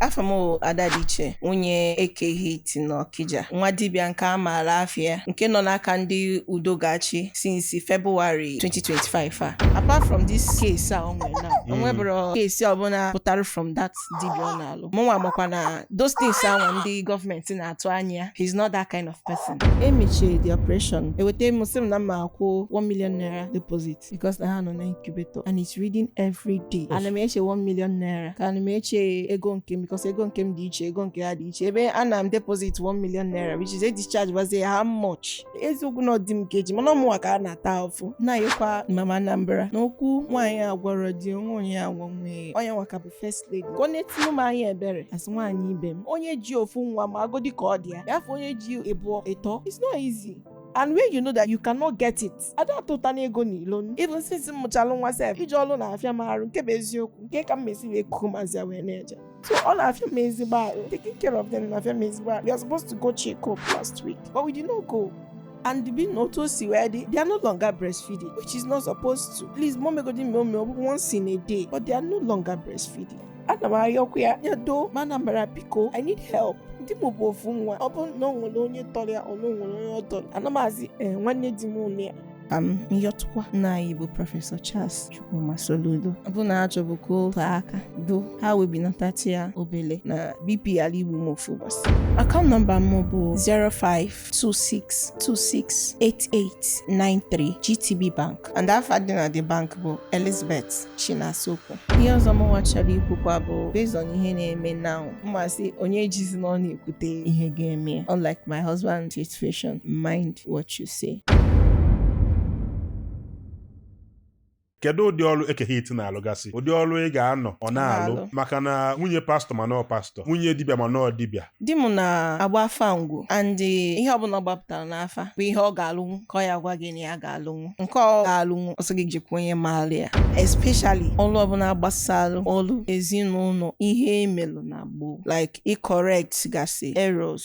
Afa m bụ Ada dị iche nwunye Eke Hit n'Ọkija, nwa dibịa nke a maara afịa nke nọ n'aka ndị udo ga-achị since February 2025 a. Apart from this case a o nwere now, o nweburo case ọbụla pụtara from that dibịa ọ na-alụ. Mụnwa makwa na those things ahụ ndị gọọmenti na-atụ anya ya, he's not that kind of person. E mechie the operation, eweta m sị m na m ma-akwụ 1 million naira deposit. because na ha nọ na incubator and it's reading every day ana m eche 1 million naira ka ana m eche ego nke m because ego nke m dị iche ego nke ha dị iche ebe ana m deposit 1 million naira which is a discharge ọ bụzịa how much eziokwu na ọ di m ka e ji mana ọ mụnwa ka a na-ata afụfụ na-ayọkwa mama Anambra na okwu nwaanyị agwarọ di o nwe onye ọ ya-agwa nwee onye nwa ka bụ first lady ka o netụrụ m anya ebere as nwaanyị ibe m onye ji ofu nwa magodi ka ọ dị ya fọ onye ji ịbụọ ịtọ it's not easy and when you know that you cannot get it ada atụtanụ ego na ilo even since m mụchalụ nwa sef ije ọlụ na-afịa m arụ nke bụ eziokwu kee ka m ma-esi wee ku ụmụazị a wee na-eje so ọ na-afịa m ezigbo arụ taking care of them na-afịa m ezigbo arụ we are supposed to go check up last week but we did not go and being na otu o si wee dị they are no longer breastfeeding which is not supposed to please m ma-emegodi eme ọ bụ once in a day but they are no longer breastfeeding ana m ayọkwa ya ya doo mama Anambra biko i need help di m bụ ofu nwa ọ bụrụ na o nwere onye tọrọ ya or na o nwere onye ọ tọrọ ana m asị ee nwanne di mụ nọ ya ka m yọtụkwa nna anyị bụ prọfesọ charles chukwuma soludo ọ bụ na a chọbu ka o tee aka doo ha wee benatatụ ya obele na bp ala igbu m ofu ụbọsị account number m bụ 05 26268893 GTB Bank and afa dị na the bank bụ Elizabeth Chinasokwu ihe ọzọ mụnwa chọrọ ikwukwa bụ based on ihe na-eme now m ma-asị onye ejizina ọnụ ya ekwute ihe ga-eme ya unlike my husband's situation mind what you say kedu ụdị ọrụ Eke Hit na-alụgasị ụdị ọrụ ị ga-anọ ọ na-alụ. maka na nwunye pastọ ma nọọ pastọ nwunye dibịa ma nọọ dibịa di m na-agba afa ngwo and ihe ọbụla ọ gbapụtara n'afa bụ ihe ọ ga-alụnwu ka ọ ya-agwa gị na ya ga-alụnwu nke ọ ga-alụnwu ọ sị gị jekwu onye maara ya especially ọlụ ọbụla gbasalụ ọlụ ezinụlọ ihe e melụ na gboo like ị correct gasị errors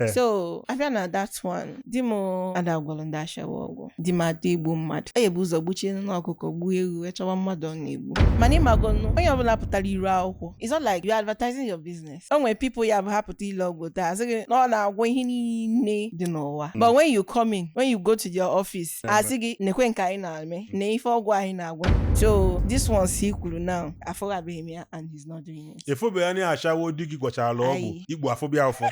Eh. so a bịa na that one di m ada agwọlọ ndị ashawo ọgwụ di m ada egbu mmadụ ọ ya-ebu ụzọ gbuchie nụ ọkụkọ gbuo ewu wee chọwa mmadụ ọ na-egbu mana ị magonu onye ọbụla pụtara iru akwụkwọ it's not like you are advertising your business o nwere people ya-abụ ha pụta ile ọgwụ taa asị gị na ọ na-agwọ ihe niile dị n'ụwa but when you come in when you go to their office Eh, asị gị nekwe nke anyị na-eme na ife ọgwụ anyị na-agwọ so this one si kwuru now afụbeghị m ya and he's not doing it. efobe ya na ashawo di gị gwọchara ọgwụ ikpu afụba ya ụfụ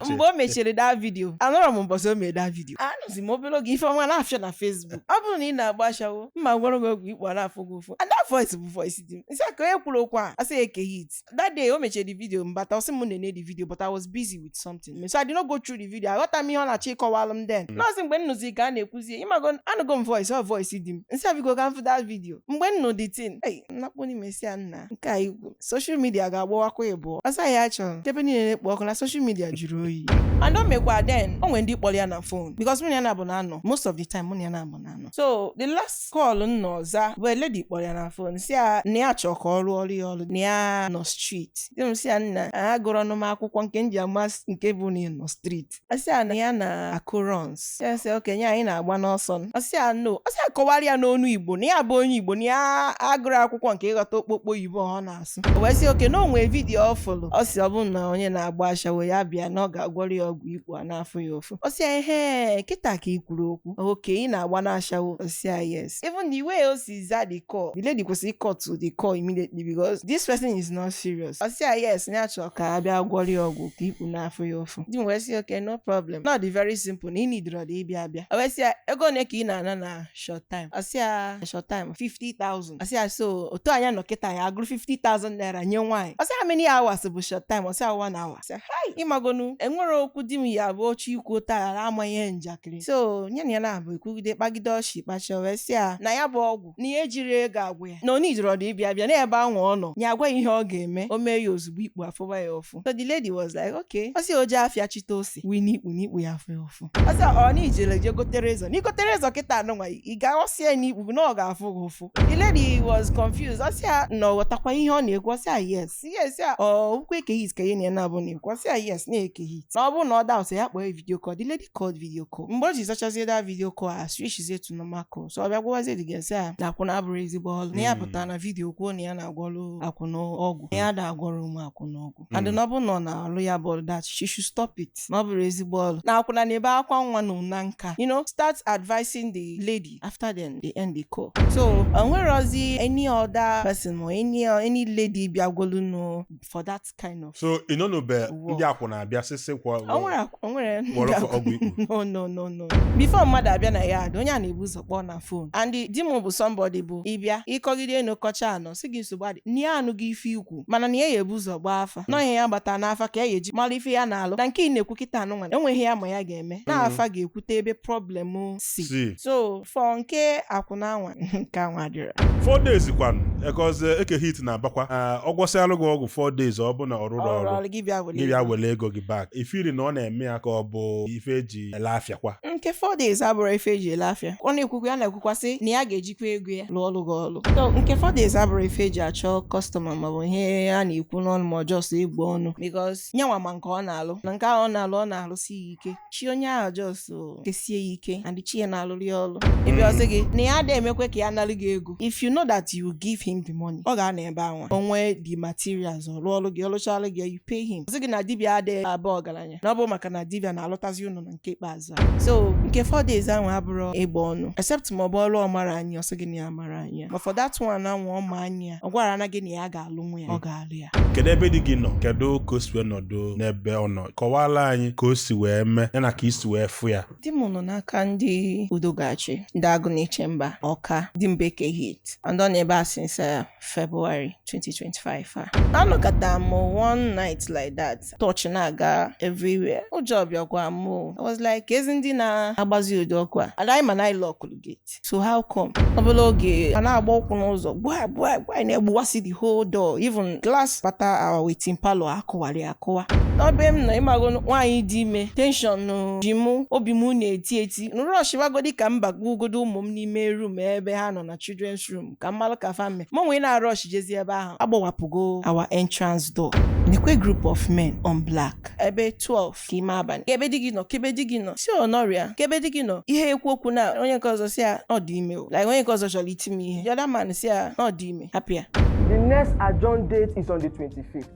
mgbe o mechiri that vidio anọrọ m mbọsị o mere that vidio anụzi m obere oge ife ọnwa na-afịọ na fesbuk ọ bụrụ na ị na-agba ashawo mma gwọrọ gị ọgwụ ikpu a na-afụ gị ụfụ and that voice bụ voice di m nsị ka onye kwuru okwu a asị ya Eke Hit that day o mechiri the vidio m bata ọ sị m nene the vidio but I was busy with something dị mme so I did not go through the video aghọta m ihe ọ na-achọ ịkọwalụ m then nọọsị mgbe m nụzi ka a na-ekwuzie ịmago anụgo m voice ọ voice di m nsị a biko ka m fụ that video mgbe m nụ the thing ei nnakpo n'ime sị ya nna nke a i kwu social media ga-agbawakwa ibụọ ọ sị ya achọrọ ebe niile na-ekpo ọkụ na social media jụrụ oyi and o mekwa then o nwere ndị kpọrọ ya na fon because mụ na ya na-abụ na anọ most of the time mụ na ya na-abụ na anọ so the last call na ọ za bụ a lady kpọrọ ya na fon sị ya na ya chọọ ka ọ rụọrọ ya ọrụ na ya nọ street. Di m sị ya na agụrọnụ m akwụkwọ nke m ji ama s- nke bụ na ị nọ street. Ọ sị ya na ya na-akụ runs. Ya sị okay nye anyị na-agba n'ọsọ. Ọ sị ya no. Ọ sị ya kọwara ya n'onu Igbo na ya bụ onye Igbo na ya agụrọ akwụkwọ nke ịghọta okpokpo oyibo ọ na-asụ. na-asụ o wee sị okay na o nwe vidiyo ọ fụrụ ọ sị ọ bụ na onye na-agba ashawo ya bịa na ọ ga-agwọrọ ya ọgwụ ikpu a na-afụ ya ụfụ ọ sị ya ehe kịta ka ị kwuru okwu okay ị na-agba na ashawo ọ sị ya yes even the way o si za the call the lady kwesịrị ị cut the call immediately because this person is not serious ọ sị ya yes ya chọrọ ka a bịa gwọrọ ya ọgwụ ka ikpu na-afụ ya ụfụ di m wee sị okay no problem na ọ dị very simple na ị needirọdị ịbịa abịa o wee sị ya ego ole ka ị na-ana na short time ọ sị ya short time 50,000 ọ sị ya so otu anyị nọ kịta ya agụrụ 50,000 naira nye nwaanyị ọ sị ya how many hours bụ short time ọ sị ya one hour ọ sị ya hai ị magonụ e nwere okwu di m ya bụ ọ chọọ ikwu taghara ama ihe njakịrị so nya na ya na-abụ ekwugide kpagide ọchị kpachaa o wee sị ya na ya bụ ọgwụ na ya ejirọ ego agwọ ya na ọ needirọdụ ịbịa abịa na ebe ahụ ọ nọ ya agwa ya ihe ọ ga-eme o mee ya ozugbo ikpu afụba ya ụfụ so the lady was like okay ọ sị o jee afịa chịte ose ite wee n'ikpu na ikpu ya afụ ya ụfụ ọ sị ya ọ na i jele je gotere Izal na i gotere Izal kịta anụnwa ị ga-aghọsị ya n'ikpu gị na ọ ga-afụ gị ụfụ the lady was confused ọ sị ya na ọ ghọtakwa ihe ọ na-ekwu ọ sị ya yes ọ sị ya ọ bụkwa Eke Hit ka nya na ya na-abụ na-ekwu ọ sị ya yes na ọ Eke Hit na ọ bụrụ na ọ doubt ya kpọọ video call the lady called video call mgbe o ji zachazie that video call a switchzie to normal call so ọ bịa gwawazie the girl sị ya na akwụna abụrọ ezigbo ọlụ na ya pụtara na vidio kwuo na ya na-agwọlụ akwụna ọgwụ na ya ada agwọrọ ụmụ akwụna ọgwụ and na ọ bụrụ na ọ na-alụ ya bụ ọlụ that she should stop it na ọ bụrọ ezigbo ọlụ na akwụna na-ebe akwa nwa na ụna nka you know start advising the lady after then they end the call so o nwerọzi any other person or any any lady bịagwolu nụ for that kind of so ị nọ n'obe ndị akwụna abịasịsịkwa o nwere akwa- o nwere ndị gwọrọ fa akwa- ọgwụ ikpu. no no no no before mmadụ abịa na yard onye a na-ebu ụzọ kpọọ na fon and di m bụ somebody bụ ị bịa ị kọgide n'ụkọcha anọ sị gị nsogbu adị na ya anụgo ife i kwu mana na ya ya ebu ụzọ gbaa afa na ọ ihe ya gbata n'afa ka ya ya eji mara ife ya na-alụ na nke ị na-ekwu kịta anụnwa enweghị ya ma ya ga-eme na afa ga-ekwute ebe problem si si so for nke akwụna anwa nke anwa dịrị four days kwanụ because Eke Hit na-abakwa Ah, ọ gwọsịalụ gị ọgwụ four days ọ bụ na ọ rụrọ ọrụ ọrụ ọrụ gị bịa were gị bịa ego. were ego gị back ị feel na ọ na-eme ya ka ọ bụ ife eji ele afịa kwa nke four days abụrọ ife eji ele afịa ọ na-ekwukwa ya na-ekwukwasị na ya ga-eji kwa ego ya lụọlụ gị ọlụ so nke four days abụrọ ife eji achọ customer maọbụ ihe a na-ekwu n'ọnụ ma ọ just egbu ọnụ because nyanwa ma nke ọ na-alụ na nke ahụ ọ na-alụ ọ na-alụsi ya ike chi onye ahụ just kesie ya ike and chi ya na-alụrụ ya ọrụ ebe hmm. ọ sị gị na ya adịghị emekwa ka ya nalụ gị ego if you know that you give him the money ọ ga-anọ ebe anwa o nwee the materials ọ lụọlụ gị ọ lụchalụ gị you pay him ọ sị gị na dibia adịghị aba ọgaranya na ọ bụ maka na dibia na-alụtazi ụnụ na nke ikpeazụ so nke four days ahụ abụrọ ịgba ọnụ except ma ọ bụ ọrụ ọ marọ anya ọ sị gị na ya amarọ anya ya. ma for that one anwa ọ ma anya ya ọ gwara ana gị na ya ga-alụnwu ya ọ ga-alụ ya kedu ebe di gị nọ kedu ka o si wee nọdụ n'ebe ọ nọ kọwaara anyị ka o si wee mee ya na ka i si wee fụ ya di m nọ n'aka ndị Udo ga-achị ndị Agụnechemba Ọka di m bụ Eke Hit and ọ nọ ebe a since uh, February 2025 a anọkata m one night like that torch na-aga everywhere ụjọ bịakwa m o. I was like kezi ndị na-agbazi ụdị ọkụ a and anyị ma na anyị lọkụrụ gate so how come obele oge a na-agba ụkwụ n'ụzọ gbaa gbaa gbaa a na-egbuwasị the whole door even glass bata our waiting parlor akụwarị akụwa n'ebe m nọ ị mago nwaanyị dị ime tension ji mụ obi m na-eti eti m rọshịwagodi ka m bakwugodu ụmụ m n'ime room ebe ha nọ na children's room ka m malụ ka fa mme mụnwa na-arush jezi ebe ahụ agbawapụgo our entrance door nekwa group of men on black ebe 12 ka ime abalị kebe di gị nọ kebe di gị nọ sị ọ nọrọ ya kebe di gị nọ ihe ekwu okwu na onye nke ọzọ sị ya ọ dị ime o like onye nke ọzọ chọrọ iti m ihe the other man sị ya ọ dị ime hapụ ya The next adjourned date is on the 25th.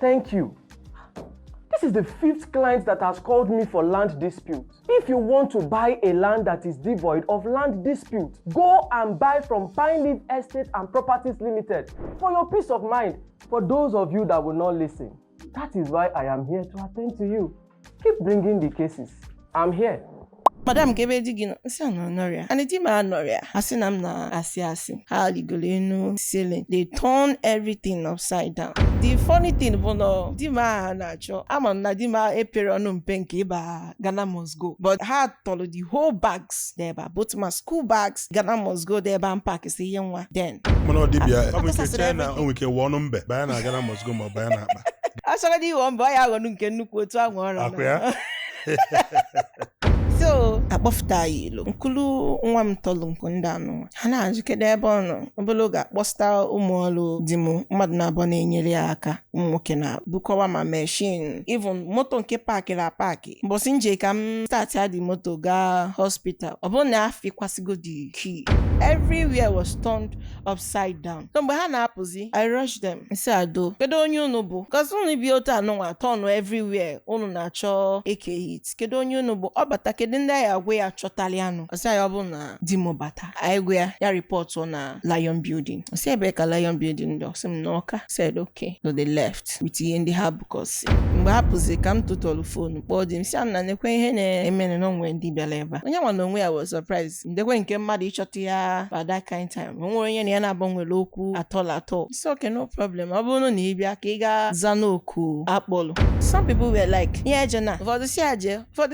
Thank you. This is the fifth client that has called me for land dispute. If you want to buy a land that is devoid of land dispute, go and buy from Pine Leaf Estate and Properties Limited for your peace of mind. For those of you that will not listen, that is why I am here to attend to you. Keep bringing the cases. I'm here. madam kebe di gị nọ m sị ha na ọ nọrọ ya and di m anọrọ ya a sị na m na-asị asị ha rigoro enu ceiling they turn everything upside down the funny thing bụ na di m a ha na-achọ ama m na di m eperọ ọnụ mpe nke ịba Ghana must go but ha tọrọ the whole bags dị ebe a both ma school bags Ghana must go dị ebe a m packsị ihe nwa then mana ọ dibịa ọ bụ nke a kpọsasịrị chee na everything. o nwere ike ghọọnụ mbe banye na Ghana must go ma ọ banye na akpa ọ chọgodu ịghọ mbe ọ ya-aghọnụ nke nnukwu otu ahụ ọ ra ọkwa ya? so a kpọfụta ya ilo m kulu nwa m tọlụ nkụ ndị anụnwa ha na-ajụ kedu ebe ọ nọ obere oge akpọsịta ụmụ ọrụ di m mmadụ naabọ na-enyere ya aka ụmụ nwoke na bukọwa ma machine even moto nke paakịrị apaakị mbọsị m je ka m start the moto gaa hospital ọ bụrụ na afikwasịgo the key everywhere was turned upside down so mgbe ha na-apụzi i rush them m sị ha doo kedu onye unu bụ cos unu bịa otu anụnwa turn everywhere unu na-achọ eke hit sị kedu onye unu bụ ọ bata kedu ndị anyị agwa ya chọtara ya nụ ọ sị ya ọ bụ na di m bata anyị gwa ya ya ripọtụọ na lion building ọ sị ebee ka lion building dị ọ sị m na ọka said okay so they left with ihe ndị ha bukọsị mgbe ha pụzi ka m tụtụrụ fonu kpọọ di m sị ya nekwa ihe na-emenụ na o nwere ndị bịara ebe a onye nwa na onwe ya was surprised ndekwa nke mmadụ ịchọta ya by that kind time o nwerọ onye na ya naabọ nwere okwu at all at all It's okay, no problem. Ọ bụrụ na ị bịa ka ị gaa zaa n'oku a kpọlụ. Some people were like, ya jeenụ, ụfọdụ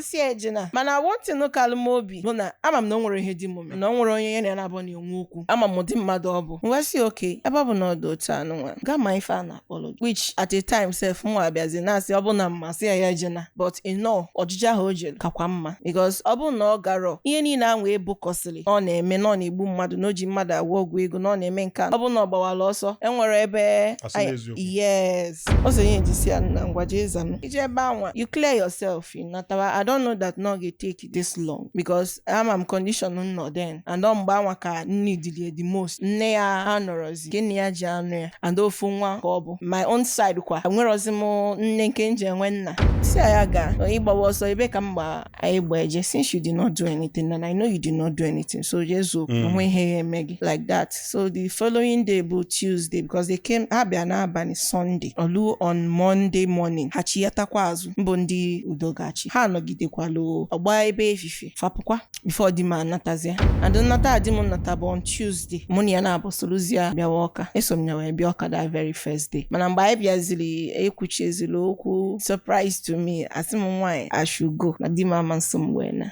sị ya ejena. Mana one thing kalụ m obi bụ na ama m na o nwerọ ihe di m mere, na o nwerọ onye ya na ya naabọ na-enwe okwu. Ama m ụdị mmadụ ọ bụ. M wee sị okay, ebe ọ bụ na ọ dị otu anụ nwa, gaa ma ife a na-akpọlụ gị. Which at a time sef mụwa abịazi na-asị ọ bụ na m ma sị ya ya ejena. but you know ojije ahụ o jere kakwa mma because ọ bụrụ na ọ garọ ihe niile ahụ e bukọsịrị na ọ na-eme na ọ na-egbu mmadụ na o ji mmadụ agwọ ọgwụ ego na ọ na-eme nke a ọ bụrụ na ọ gbawara ọsọ e nwere ebe A sị anyị- n'eziokwu. yes o so ihe e ji sị ya na ngwa jee zanụ i jee ebe anwa you clear yourself ị natawa i don't know that na ọ ga-etake this long because ama m condition m nọ then and ọ mgbe anwa ka m needịlị ya the most nne ya anọrọzi nke nna ya ji anọ ya and ofu nwa ka ọ bụ my own side kwa enwerọzi m nne nke m ji enwe nna sị ya gaa ị gbawa ọsọ ebee ka m gba anyị gba eje since you did not do anything and I know you did not do anything so jee zaa o nwerọ ihe ya-eme gị like that so the following day bụ Tuesday because they came ha bịa n'abalị Sunday o lu on Monday morning ha chiyatakwa azụ mbụ ndị udo ga-achị ha anọgidekwalụ ọ gbaa ebe efifie fa apụkwa before di m anatazia and nnata di m nnata bụ on Tuesday mụ na ya naabọ soluzia bịawa ọka eso m ya wee bịa ọka that very first day mana mgbe anyị bịaziri e kwuchaziri okwu surprise to me a sị m nwaanyị I should go na di m ama nso m wee naa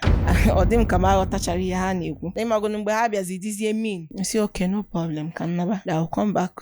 ọ dị m ka m aghọtacharọ ihe ha na-ekwu na ị magonụ mgbe ha bịazi dịzie mean sị okay no problem ka m naba da come back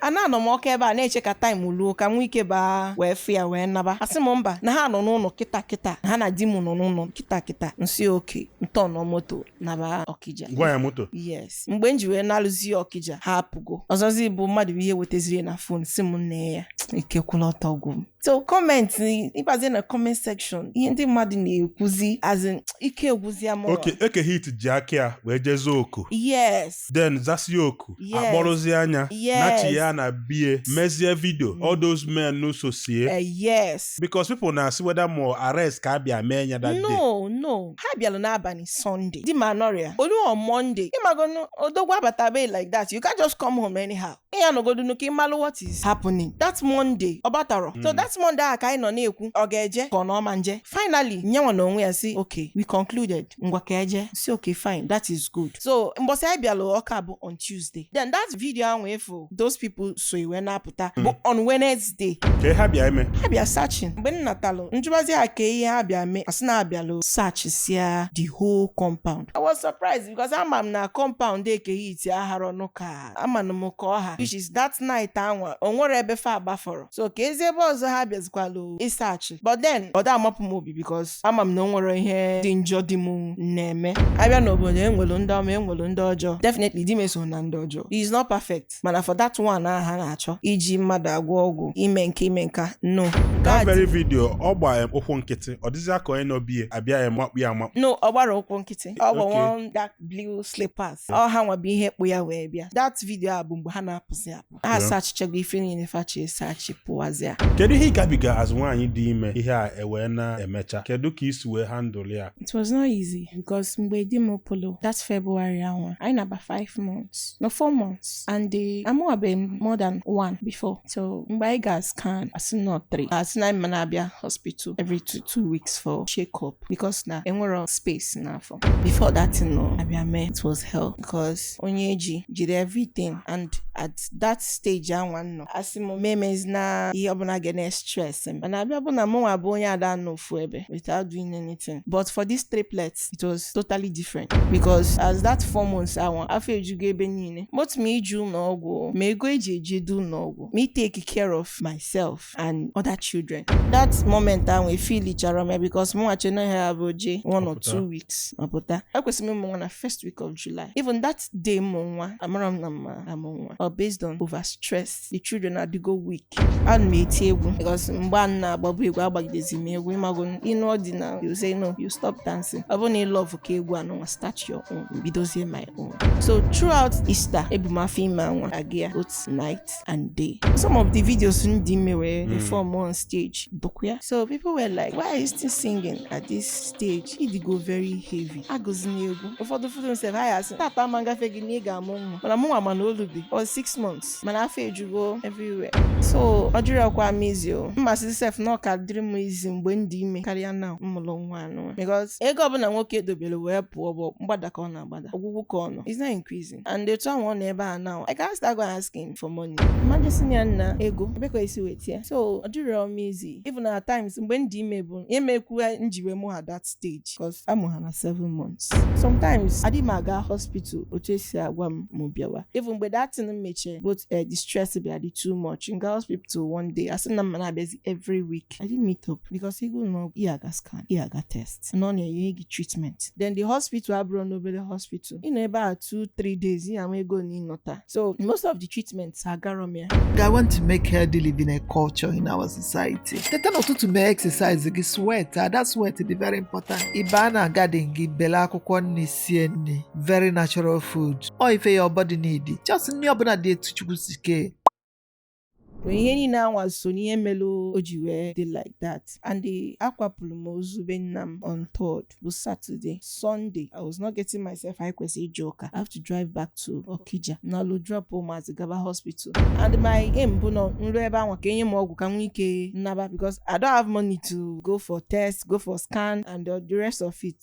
a na anọ m ọka ebe a na-eche ka time luo ka m nwee ike baa wee fụ ya wee naba a sị m mba na ha nọ n'ụlọ kịta kịta na ha na di m nọ n'ụlọ kịta kịta m sị okay m tọọnụọ moto naba ọkija gwa ya moto yes mgbe m ji wee na-eluzi ọkija ha apụgo ọzọzi bụ mmadụ bụ ihe wetaziri na phone sị m nee ya eke kwụlụ ọtọ ọ gwụ m so comment ị bazie na comment section ihe ndị mmadụ na-ekwuzi as in ike agwụzia m okay eke hit ji aka ya wee jee zaa oku yes then zasi oku Yes. akpọrọzie anyị Yes. nachie ya na bie mezie video all those men n'uso sie Eh, yes because people na-asị whether ma arrest ka a bịa mee ya that day no no ha bịara n'abalị sunday di m anọrịa Ọlụ on monday ịmagonụ odogwu abatabeghị like that you can't just come home anyhow ị ya-anọgodunu ka ị malụ what is happening that monday ọ batarọ so Mm. that monday ahụ ka anyị nọ na-ekwu ọ ga-eje ka ọ na ọ ma eje finally nyanwa na onwe ya sị okay we concluded ngwa ka e je sị okay fine that is good so mbọsị anyị bịalụ Ọka bụ on tuesday then that video ahụ ị fụ those people so ya wee na-apụta bụ on wednesday ka ihe ha bịa eme ha bịa searching mgbe m natalụ m jụbazi ha ka ihe ha bịa mee asị na abịalụ sachisia the whole compound i was surprised because ama m na compound Eke Hit aharọ nụ ka amanụ m ka ọ ha which is that night anwa o nwerọ ebe fa gbafọrọ so keezi ebe ọzọ ha bịazikwalụ ịsachi but then ọ da amapụ m obi because ama m na o nwerọ ihe dị njọ di m na-eme abịa n'obodo enwelu ndị ọma enwelu ndị ọjọọ definitely di m esorọ na ndị ọjọọ he is not perfect mana for that one ahụ ha na-achọ iji mmadụ agwọ ọgwụ ime nke ime nka no that That very video ọ gba em ụkwụ nkịtị ọ dịzịa ka onye nọ bie abịa ya makpu ya amakpu no ọ gbarọ ụkwụ nkịtị ọ Okay. gba one dark blue slippers ọ ha nwa bụ ihe kpụ ya wee bịa that video a bụ mgbe ha na-apụzi apụ ha Yeah. sachichago ife niile fa chọ ịsachi pụwazịa kedu ihe ị gabiga as nwaanyị dị ime ihe a ewee na-emecha kedu ka i si wee handle ya It was not easy because mgbe di m pụrụ that February anwa anyị na-aba 5 months no 4 months and amụwabeghị m more than one before so mgbe anyị ga scan asị na ọ 3 asị na anyị ma na-abịa hospital every two, two weeks for check up because na enwerọ space n'afọ before that thing no abịa mee it was hell because onye eji jiri everything and at that stage anwa nọ asị m emezina ihe ọbụla ga na-estress m mana abịa bụ na mụnwa bụ onye ada anọ ofu ebe without doing anything but for these triplets it was totally different because as that four months anwa afọ ejugo ebe niile both ma ije ụlọ ọgwụ ma ego eji ejedu ụlọ ọgwụ ma itake care of myself and other children that moment ahụ efilichara m ya because mụnwa che na ha bụ je one or two weeks ọ pụta ekwesịrị m ịmụ nwa na first week of July even that day m mụ nwa amarọ m na m ma-amụ nwa ọ based on over stress the children adịgo weak ana m eti egwu because mgbe m na-agbabu egwu agbagidezi m egwu ịmago in ọdịnala you say no you stop dancing ọ bụrụ na ị love ka egwu anụnwa start your own m bidozie my own so throughout Easter ebu m afọ ime anwa aga ya both night night and day. Some of the videos m dị ime wee mm. perform on stage, dịkwụ ya. So people were like, why are you still singing at this stage? Ị dịgo very heavy. Agụzina egwu. Ụfọdụ ụfọdụ sef asị, tata ama ngafe gị na ị ga-amụ nwa. Mana mụnwa ma na o lubeghị, ọ six months. Mana afọ ejugo everywhere. So, ọ dịrọkwa m easy o. M ma-asị sef na ọ ka dịrị m easy mgbe m dị ime karịa na m mụlụ nwa anwa. Because ego ọbụla nwoke dobere wee pụọ bụ mgbada ka ọ na-agbada. Ọgwụgwụ ka ọ nọ. It's not increasing. and otu anwa ọ nọ ebe a now I can't start go asking for money mmadụ si ya nna ego ebee ka i si weta ya so ọ dịrọ m easy even at times mgbe m dị ime bụ ya mekwu njiwe mụọ ha at that stage cause amụ ha na seven months sometimes adị m aga hospital otu esi agwa m mụ bịawa even mgbe that thing m mechie but eh, the stress bịa dị too much m ga hospital one day asị na m ma na-abịazi every week I didn't meet up because ego na ị ya-aga scan ị ya-aga test na ọ na-enye gị treatment then the hospital abụrọ nụ obele hospital ị nọ ebe a 2 3 days ị ya-enwe ego na ịnọta so most of the treatments agarọ m ya I want to make healthy living a culture in our society. Teta n'ụtụtụ mee exercise gị sweat that sweat dị very important. Ịba na garden gị bele akwụkwọ nni sie nni very natural food. Ọ ife your body needi. Just nni ọbụna dị etu Chukwu si kee. But ihe niine anwa so n'ihe melu o ji wee dị like that and the akwapụlụ m ozu be nna m on third bụ Saturday Sunday I was not getting myself anyị kwesịrị ije ụka I have to drive back to Okija nalu drop ụmụazị gaba hospital and my aim bụ na m lu ebe anwa ka enye m ọgwụ ka m nwee ike naba because I don't have money to go for test go for scan and the rest of it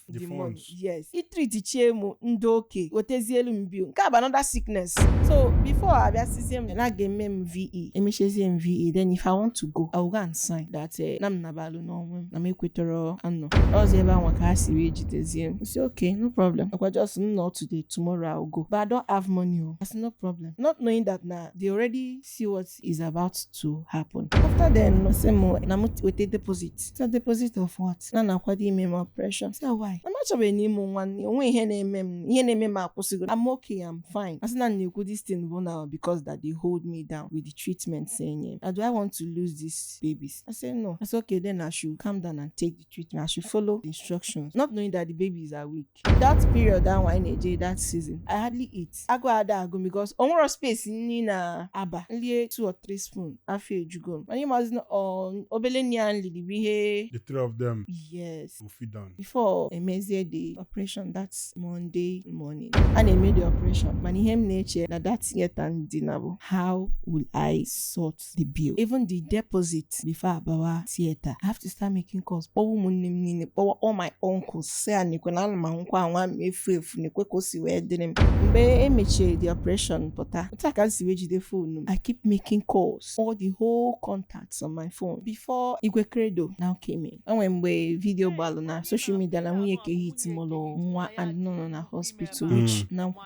The money. yes e treatichie mụ m dị okay ewetezielu m bill nke a bụ another sickness so before abịa sịzie m na a ga-eme m VE emechezie m VE then if i want to go i will go and sign that eh, na m nabalụ n'onwe m na m ekwetarọ anọzi ebe anwa ka ha si wee jidezie m sị okay no problem ọkwa just m nọọ today tomorrow i will go but i don't have money o that's no problem not knowing that na they already see what is about to happen after then sị m na m weta deposit say deposit of what na a na-akwado ime m operation say why na m achọbeghị na ịmụ nwa nne onwe ihe na-eme m ihe na-eme m akwụsịgo I'm okay I'm fine asị na m na-ekwu this thing bụ na because that they hold me down with the treatments enye m do I want to lose these babies I say no I say okay then I should calm down and take the treatment I should follow the instructions not knowing that the babies are weak that period anwa anyị na-eje that season i hardly eat agụụ ada agụ m because o nwerọ space nni na-aba m lie two or three spoon afọ ejugo m mana ịmazi na ọ- obele nni a m lili bụ ihe The three of them yes will feed on. before emezie the operation that monday morning a na-eme the operation mana ihe m na-eche na that theater m dina bụ how will i sort the bill even the deposit before abawa theatre i have to start making calls kpọwa ụmụnne m niine kpọwa all my uncles si a nekwe na ana m anwụkwa anwa m efu efu nekwe ka o si wee dịrị m mgbe emechi the operation pụta otu a ka m si wee jide phone m i keep making calls all the whole contacts on my phone before igwe credo now came in o nwe mgbe video gbalụ na social media na nwunye kehit mụlụ nwa and nọ na hospital which na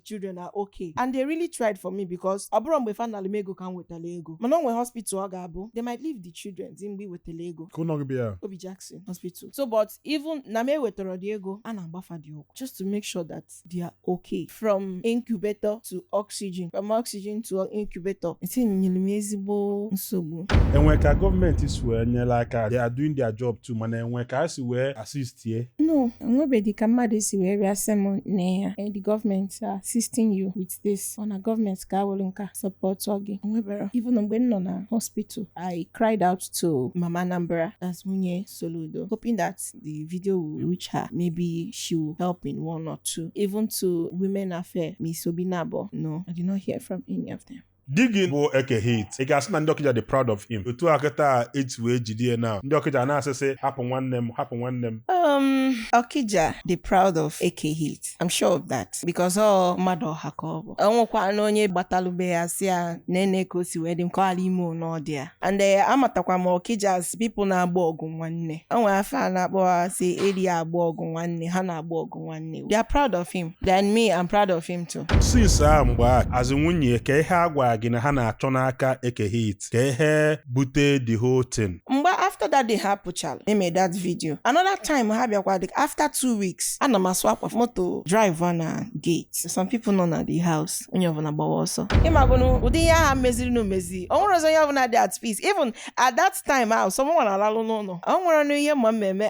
children are okay and they really tried for me because ọ bụrọ mgbe fa nalụ m ego ka m wetara ego mana o nwere hospital ọ ga-abụ they might leave the children di mgbe i wetara ego kee ụlọ ọgwụ bụ ya obi jackson hospital so but even na m ewetarọ dị ego a na-agba fa dị ọgwụ just to make sure that they are okay from incubator to oxygen from oxygen to incubator etinyere m ezigbo nsogbu enwe ka gọọmenti si wee nyere aka they are doing their job too mana enwe ka a si wee assist tie no enwebedị ka mmadụ si wee bịa sị m nee ya eh, the government are assisting you with this or na gọọmenti ka e woro nkaa sọpọtụọ gị enweberọ even mgbe m nọ na hospital i cried out to mama Anambra as nwunye Soludo hoping that the video will reach her maybe she will help in one or two even to women affair Miss Obinabo no I did not hear from any of them di gị bụ eke hit ị ga-asị na ndị ọkịja dị proud of him otu a kịta e ji wee jide ya na ndị ọkịja na-asị sị hapụ nwanne m hapụ nwanne m Um, Okija dị proud of eke hit. I'm sure of that because ọ mmadụ ọha ka ọ bụ. O nwekwanụ onye gbatalụ be ya sị ya nene ka o si wee dị m ka ọ ghara ime n'ọdị ya. And eh, amatakwa m Okija as people na-agba ọgụ nwanne. O nwere afa a na-akpọ ha sị eri agba ọgụ nwanne ha na-agba ọgụ nwanne they are proud of him then me I'm proud of him too. since ahụ mgbe a as nwunye ya kee ihe a gwara gị na ha na-achọ n'aka eke hit kee ihe bute the whole thing mgbe after that day ha pụchara e mee that video another time ha bịakwa dị after two weeks ana m asụ akwa moto drive na gate some people nọ na the house onye ọbụla gbawa ọsọ ị magonụ ụdị ihe a ha meziri na o mezi o nwerọzi onye ọbụla dị at peace even at that time ahụ sọ mụnwa na-alalụ n'ụlọ o nwerọnụ ihe m ma mee m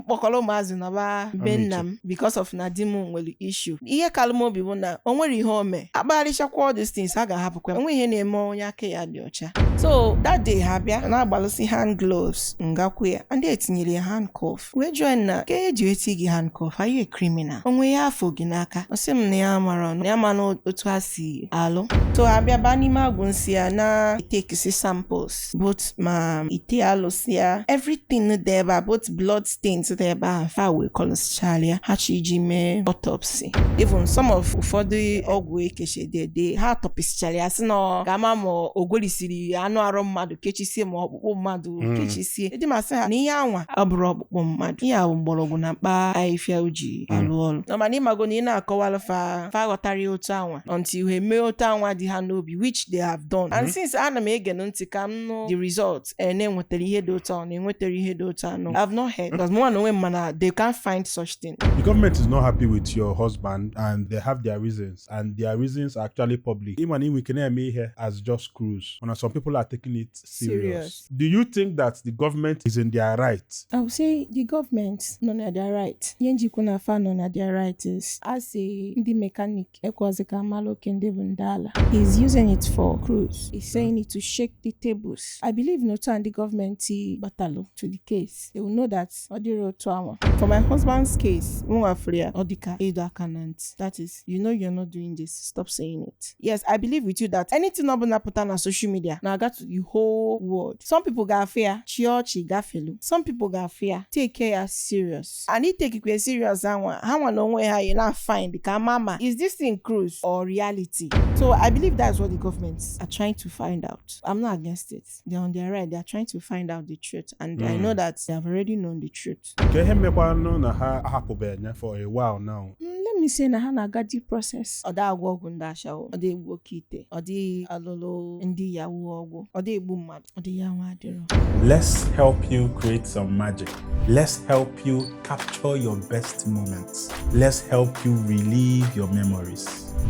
kpọkọrọ ụmụazị naba be nna m because of na di m nwere issue ihe kalụ m obi bụ na o nwerọ ihe o mee a kpagharịchakwa all these things a ga-ahapụkwa o nweghị ihe na-eme onye aka ya dị ọcha so that day ha bịa na-agbalụsi hand gloves m gakwu ya and e tinyere ya handcuff wee jụọ ya nna kee e ji eti gị handcuff are you a criminal o nwe ihe a fụ gị n'aka ọ sị m na ya amarọnụ ya ma na otu ha si alụ so ha bịa baa n'ime agwụ nsị ya na-etekisi samples both ma ite alụsị ya everything dị ebe a both blood stains dị ebe a fa wee kọlụsịchalị ya ha chọ iji mee autopsy even some of ụfọdụ ọgwụ ekechedede ha tọpịsịchara ya sị na a ga-ama ma o gwerisiri anụ arụ mmadụ kechisie ma ọkpụkpụ mmadụ Mm. kechisie di m asị ha na ihe anwa abụrọ ọkpụkpụ mmadụ ihe a bụ mgbọrọgwụ na mkpa afịfịa o ji Mm. alụ ọrụ nụ mana ị mago na ị na-akọwara fa fa aghọtarọ ya otu anwa until ha emee otu anwa dị ha n'obi which they have done and Mhm. since ana m ege nụ ntị ka m nụ the result eh, na e nwetara ihe dị otu anwa na e nwetara ihe dị otu anwa I've not heard because mụ na onwe m ma na they can't find such thing The government is not happy with your husband and they have their reasons and their reasons are actually public. Even ị nwee ike na-eme ihe as just cruise. And some people are taking it serious. Do you think that the government is in their right? I would say the government nọ na their right. Ihe m ji kwu na fa nọ na their right is asị ndị mekanik ekwazi ka mmalụ oke ndị bụ ndị ala. He is using it for cruise. He is saying it to shake the tables. I believe na otu a ndị gọọmenti batalụ to the case. They will know that ọ dịrọ otu anwa. For my husband's case, mụnwa fụrụ ya ọ dịka ịdọ aka na ntị. That is you know you're not doing this stop saying it yes i believe with you that anything ọbụla pụta na social media na-aga to the whole world some people ga-afụ ya chi ọchị gafelu some people ga-afụ ya take care ya serious and itekikwe serious anwa ha nwa na onwe ha you na find ka mama is this thing cruise or reality so i believe that's what the government are trying to find out i'm not against it they're on their right they're trying to find out the truth and i Mm. know that they have already known the truth ke ihe mekwanụ na ha ahapụbeghị ya for a while now Mm, let me say na ha na-aga due process ọ dị agwọ ọgwụ ndị ashawo ọ dị egbu oke ite ọ dị alụlụ ndị yahoo ọgwụ ọ dị egbu mmadụ ọ dị ya nwa adịrọ let's help you create some magic let's help you capture your best moments let's help you relive your memories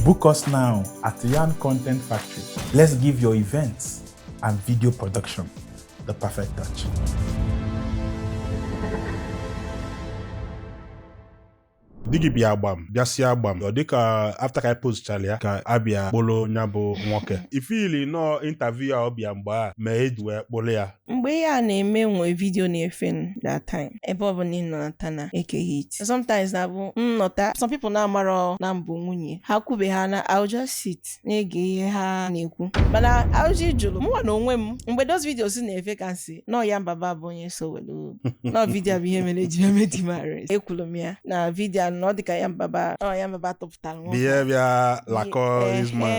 book us now at Yan Content Factory let's give your events and video production, the perfect touch. di gị bịa agba m bịasịa agba m ọ dịka after ka anyị postchara ya ka a bịa kpụrụ ya bụ nwoke ị feeli na ọọ interview a ọ bịa mgbe a mee e ji wee kpụrụ ya mgbe ihe a na-eme nwee vidio na-efe that time ebe ọ bụna ị nọta na Eke Hit sometimes na-abụ m nọta some people na-amarọ na m bụ nwunye ha kwube ha na I'll just sit na-ege ihe ha na-ekwu mana ajụjụ m jụrụ mụnwa na onwe m mgbe those videos na-efe ka m sị na ọ Yan Baba bụ onye so were na ọ vidio bụ ihe mere eji eme di m arrest ekwuru m ya na vidio na ọ dịka Yan Baba na ọ Yan Baba tụpụtara nwa bịa bịa lakọ this man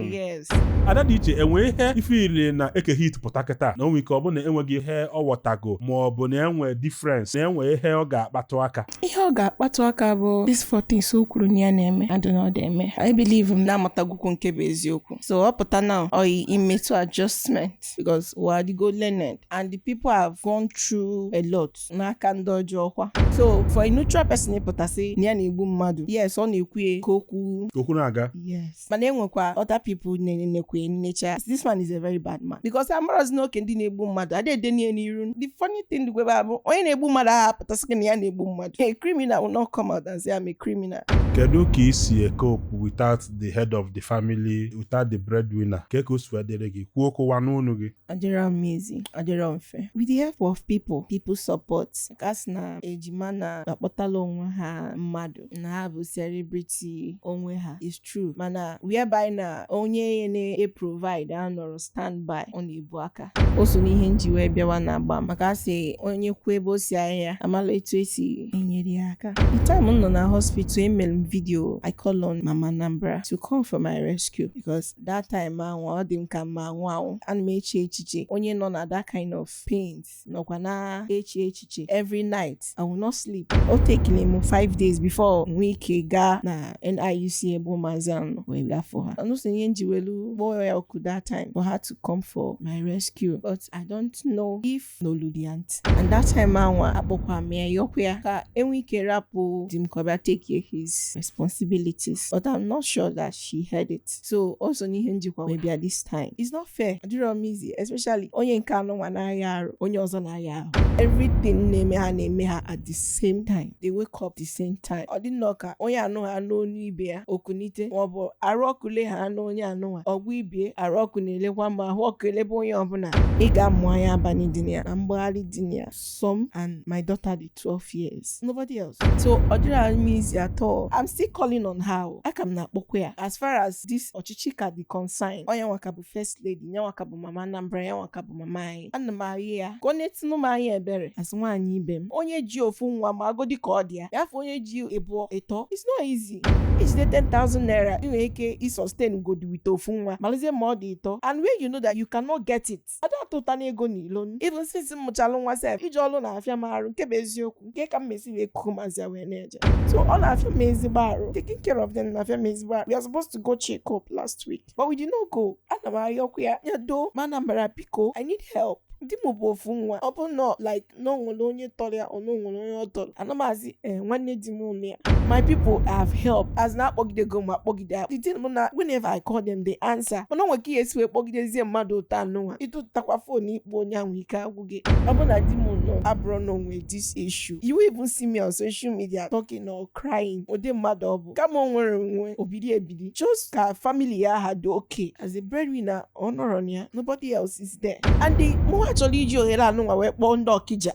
mm. yes ada dị iche enwe ihe ị feeli na Eke Hit pụta kịta na o nwe ike ọ bụ na enweghị ihe ọ ghọtago ma ọ bụ na enwe difference na enwe ihe ọ ga-akpatụ aka ihe ọ ga-akpatụ aka bụ these four things o kwuru na ya na-eme adị na ọ dị eme I believe m na amatagokwu nke bụ eziokwu so ọ pụta na ọ yị imetụ adjustment because ụwa adịgo learned and the people have gone through a lot n'aka ndị ọjọọ kwa so for a neutral person ịpụta sị na ya na-egbu mmadụ yes ọ na-ekwu ya ka okwu okwu na-aga yes mana enwekwa other people na-ene ekwenyecha this man is a very bad man because amarozi na oke ndị na-egbu mmadụ adị ede ya n'iru the funny thing dịgo ebe a bụ onye na-egbu mmadụ aha apụta sị gị na ya na-egbu mmadụ a criminal will not come out and say I'm a criminal kedu ka i si cope without the head of the family without the breadwinner ka ka o si wee dịrị gị kwuo okwu a n'ọnụ gị adịrọ m easy adịrọ mfe with the help of people people support ka a sị na ejima na-akpọtala onwe ha mmadụ na ha bụ celebrity onwe ha is true mana whereby na onye ya na-eprovide anọrọ standby ọ na-ebu aka o so n'ihe m ji wee bịawa na agba m maka asị onye kwuo ebe o si ahịa amala etu esi enyere ya aka the time m nọ na hospital emere m vidio i call on mama Anambra to come for my rescue because that time ahụ ọ dị m ka m na-anwụ anwụ ana m eche echiche onye nọ na that kind of pain night nọkwa na-eche echiche every night I will not sleep o take-iri m 5 days before nwee ike gaa na NIUC ebe ụmụazị ahụ nọ wee bịa fụ ha o so n'ihe m ji welu kpọọ ya oku that time for her to come for my rescue but I don't know if n'oludi ya ntị and that time anwa akpọkwa m ya yọkwa ya ka e nwee ike rapụ di m ka ọ bịa take his responsibilities but I'm not sure that she heard it so o so n'ihe m jikwa wee bịa this time it's not fair ọ dịrọ m easy especially onye nke anụnwa na-aya arụ onye ọzọ na-aya ahụ everything na-eme ha na-eme ha at the same time they wake up the same time ọ dị nnọọ ka onye anụnwa anụ onu ibe ya o kunite maọbụ arụ ọkụ le ha enye onye anụnwa ọgwụ ibe ya arụ ọkụ na-elekwa ma ahụ ọkụ elebe onye ọbụla ị ga-amụ anya abalị dị na ya na mgbagharị dị na ya some and my daughter dị 12 years nobody else so ọ dịrọ m easy at all I'm still calling on her o. a ka m na-akpọkwa ya as far as this ọchịchị ka dị concern ọ nya nwa ka bụ first lady nya nwa ka bụ mama Anambra ya nwa ka bụ mama anyị ana m arịọ ya ka o netunụ m anya ebere as nwaanyị ibe m onye ji ofu nwa magodi ka ọ dị ya ya fọ onye ji ịbụọ ịtọ it's not easy i jide 10,000 naira ị nwere ike ịsustain godi with ofu nwa malụzie ma ọ dị ịtọ and when you know that you cannot get it ada atụtanụ ego na ilo even since m mụchalụ nwa sef ije ọlụ na-afịa m arụ nke bụ eziokwu nke ka m mesi wee kuku mazia wee na-eje so ọ na-afịa m ezigbo arụ taking care of them na-afịa m ezigbo arụ we are supposed to go check up last week but we did not go ana m ayọkwa ya ya doo mama Anambra biko i need help di m bụ ofu nwa ọ bụrọ like na o nwere onye tọrọ ya or na o nwere onye ọ tọrọ ana m asị ee eh, nwanne di m nọ ya my people have helped as na akpọgidego m ha kpọgide ha the thing bụ na whenever I call them they answer mana o nwe ka ị ya-esi wee kpọgidezie mmadụ otu anụnwa ị tụtakwa phone ịkpọ onye ahụ ike agwụ gị ọ bụ na di m nọ ọ bụrụ na onwe this issue you won't even see me on social media talking or crying ụdị mmadụ ọ bụ kama o nwere onwe obiri ebiri just ka family ya ha dị okay as a breadwinner ọ nọrọ ya nobody else is there and the mụwa chọrọ iji ohere anụnwa wee kpọọ ndị Ọkịja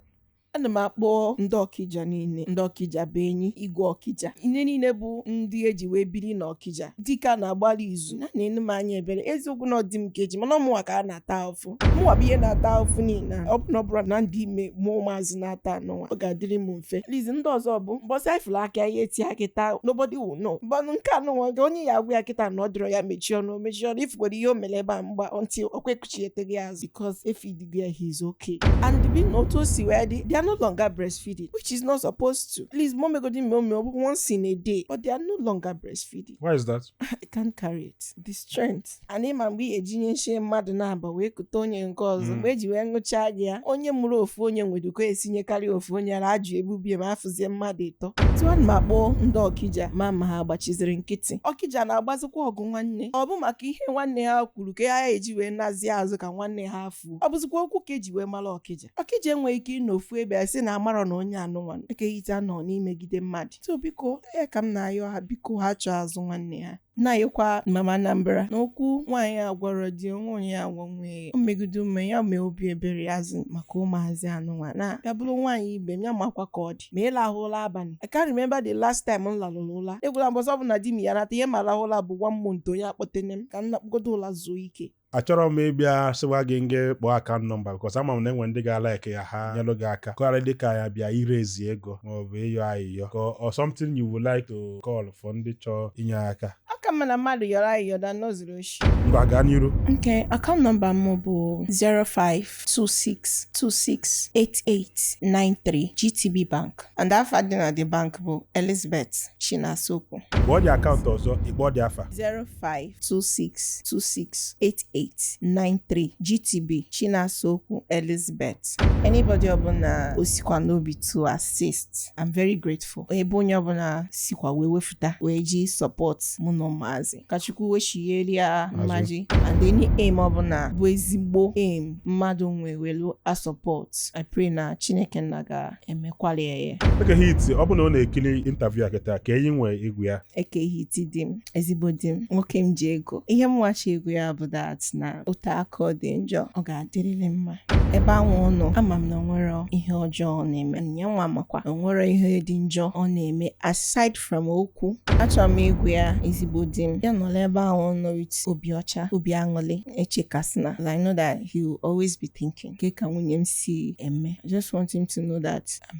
ana m akpọ ndị Ọkịja niile ndị Ọkịja bụ enyi igwe Ọkịja ndị niile bụ ndị e ji wee biri na Ọkịja dịka na-agbalị izu na nenụ m anya ebere eziokwu na ọ di m ka e ji mana ọ mụnwa ka a na-ata ahụfụ mụnwa bụ ihe na-ata ahụfụ niile a. ọ bụ na ọ bụrụ na m dị ime mụọ ụmụazị n'atọ anụnwa ọ ga-adịrị m fe least ndị ọzọ bụ mbọsị ị fụlụ aka ihe tie ya kịta nobody will know but nke anụnwa kee onye ị ya-agwa kịta na ọ dịrọ ya mechie ọnụ mechie ọnụ ị fụgodu ihe o mere ebe a mgba until o kwekuchieteghị azụ because ị feedigo ya he is okay and bi na otu o si wee dị they are no longer breastfeeding which is not supposed to please ma m megodi mme ome ọ bụ once in a day but they are no longer breastfeeding Why is that? I can't carry it. The strength. ana ịma mgbe ị ga-eji nye nshie mmadụ na-aba wee kute onye nke ọzọ Mm. mgbe eji wee ṅụchaa gị ya onye mụrụ ofu onye nweduko esinyekarị ofu onye ara ajụ ebubie ma afụzie mmadụ ịtọ otu a ma kpọọ ndị ọkija ma ma ha agbachiziri nkịtị ọkija na-agbazikwa ọgụ nwanne ọ bụ maka ihe nwanne ha kwuru ka a ya-eji wee nazie azụ ka nwanne ha fuo ọ bụzikwa okwu ka eji wee mara ọkija ọkija enweghị ike ịnọ ofu ebe a sị na amarọ na onye anụnwa Eke Hit anọ n'imegide mmadụ so biko ya ka m na-ayọ ha biko ha chọọ azụ nwanne ha na-ayọkwa mama Anambra na okwu nwaanyị agwarọ di onwe onye ya-agwa nwee o megide ume ya mee obi ebere ya zi maka ụmụazị anụnwa na ya bụrụ nwaanyị ibe m ya makwa ka ọ dị ma ị lahụ ụla abalị I can't remember the last time m larụrụ ụla egwula mbọsị ọbụna di m ya-anata ihe m ya-arahụ ụla bụ one month onye akpọtene m ka m nakpọgodo ụla zuo ike achọrọ m ịbịa sịwa gị ngwa kpọọ account number because ama m na enwe ndị ga-alike ya ha nyelụ gị aka ka ọ ghara ịdị ka ya bịa iraise ego maọbụ ịyọ ayịyọ ka ọ something you would like to call for ndị chọọ inye aka ọ ka mma na mmadụ yọrọ ayịyọ than o zuru oshi ngwa gaa n'iru Okay, account number m bụ 05 26268893 GTB Bank and afa dị na the bank bụ Elizabeth Chinasaokwu kpọọ the account ọzọ ị kpọọ the afa 0526268893 GTB Chinasaokwu Elizabeth anybody ọbụla o sikwa n'obi to assist I'm very grateful ebe onye ọbụla sikwa wee we pụta wee ji support mụ na ụmụazị ka chukwu wechigheri ya mmaji and any aim ọbụla bụ ezigbo aim mmadụ nwe welu asọpọt i pray na chineke nna ga-emekwali ya ya Eke hit ọ bụ na ọ na-ekiri interview a kịta kee ihe ị nwee ịgwa ya Eke Hit di m ezigbo di m nwoke m ji ego ihe mụwa chọ ịgwa ya bụ that na ọ taa ka ọ dị njọ ọ ga-adịrịrị mma ebe anwụ ọ nọ ama m na o nwere ihe ọjọọ ọ na-eme ya nwa makwa o nwere ihe dị njọ ọ na-eme aside from okwu achọrọ m ịgwa ya ezigbo di m ya nọla ebe ahụ ọ nọ with obi ọcha obi aṅụlị echekasịna I know that he will always be thinking kee ka nwunye m si eme I just want him to know that I'm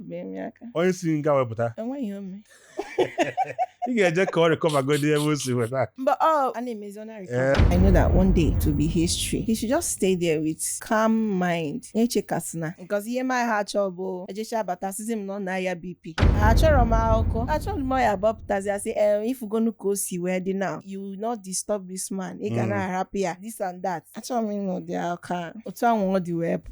onye si nga wepụta ị ga-eje ka ọ recovergodi ebe o si weta mba ọ a na-emezi ọ na-arecover I know that one day it will be history he should just stay there with calm mind echekasịna because ihe m aha achọ bụ ejecha abata sịzi m na ọ na-aya BP achọrọ m akụkọ achọrọ m ya bọpụtazi asị ee ifugonu ka o si wee dị now you will not disturb this man ị ga na-arapụ ya this and that achọrọ m ịnụ ụdị akụkọ otu ahụ ọ dị wee pụ